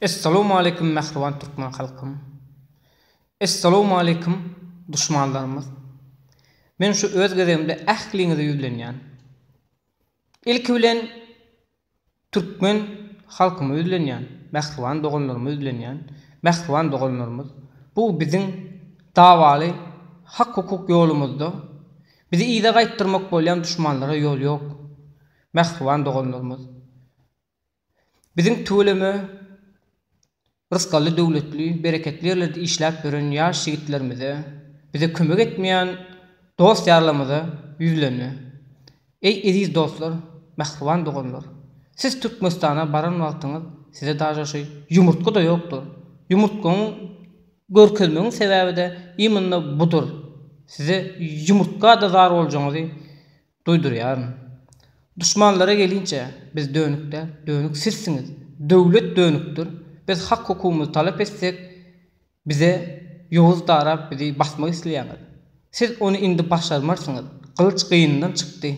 Essalowmaleýkum mähriban türkmen halkym! Essalowmaleýkum duşmanlarymyz! Men şu öz gezegimde ähliňize ýüzlenýän. Ilki bilen türkmen halkyma ýüzlenýän, mähriban doganlaryma ýüzlenýän. Mähriban doganlarymyz, bu biziň dawaly hak-hukuk ýolumyzda bizi yza gaýtdyrmak bolýan duşmanlara ýol ýok. Mähriban doganlarymyz! Biziň tüweleme Rysgally Döwletli bereketli ýerlerde işläp ýören ýaş ýigitlerimize, bize kömek etmeýän dost-ýarlarymyza ýüzlenme. Eý eziz dostlar, mähriban doganlar! Siz Türkmenistana baran wagtyňyz size daže şu ýumurtga-da ýokdur. Ýumurtgaňy görkezmegiň sebäbi-de imynda budur. Size ýumurtga-da zar boljagyňyzy Duýdurýaryn. Duşmanlara gelinçä, biz dönük däl, dönük sizsiňiz. Döwlet dönükdir. Biz hak-hukugymyzy talap etsek, bize ýowuz darap bizi basmak isleýäňiz. Siz ony indi başarmarsyňyz. Gylyç gynyndan çykdy.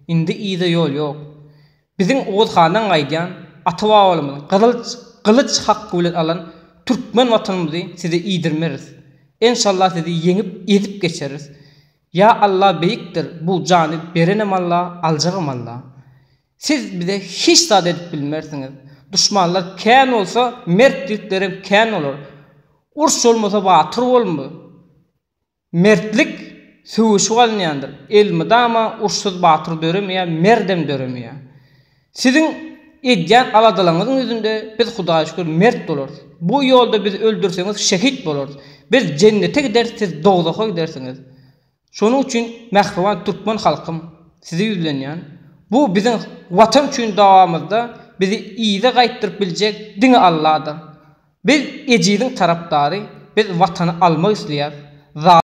Indi yza ýol ýok. Biziň Oguz handan gaýdýan, ata-babalarymyzyň gyzyl gylyç haky bilen alan türkmen watanymyzy size iýdirmeris. Enşalla sizi ýeňip, ezip geçeris. Ýa Allah beýikdir bu jany berenem Allah aljagam Allah siz bize hiç zat edip bilmersiňiz duşmanlar kän bolsa mert ýigitlerem kän bolar urş bolmasa batyr bolmy mertlik söweşip alynýandyr elmydama urşsuz batyr döremeýär merdem döremeýär. Siziň edýän aladalaryňyzyň ýüzünde biz Hudaýa şükür mert bolarys. Bu ýolda bizi öldürseňiz şehit bolarys. Biz jennete gideris siz dowzaha gidersiňiz. Şonuň üçin mähriban türkmen halkym size ýüzlenýän. Bu biziň watan üçin dawamyzda bizi yza gaýtdyryp biljek diňe Alladyr. Biz ejiziň tarapdary biz watany almak isleýäs.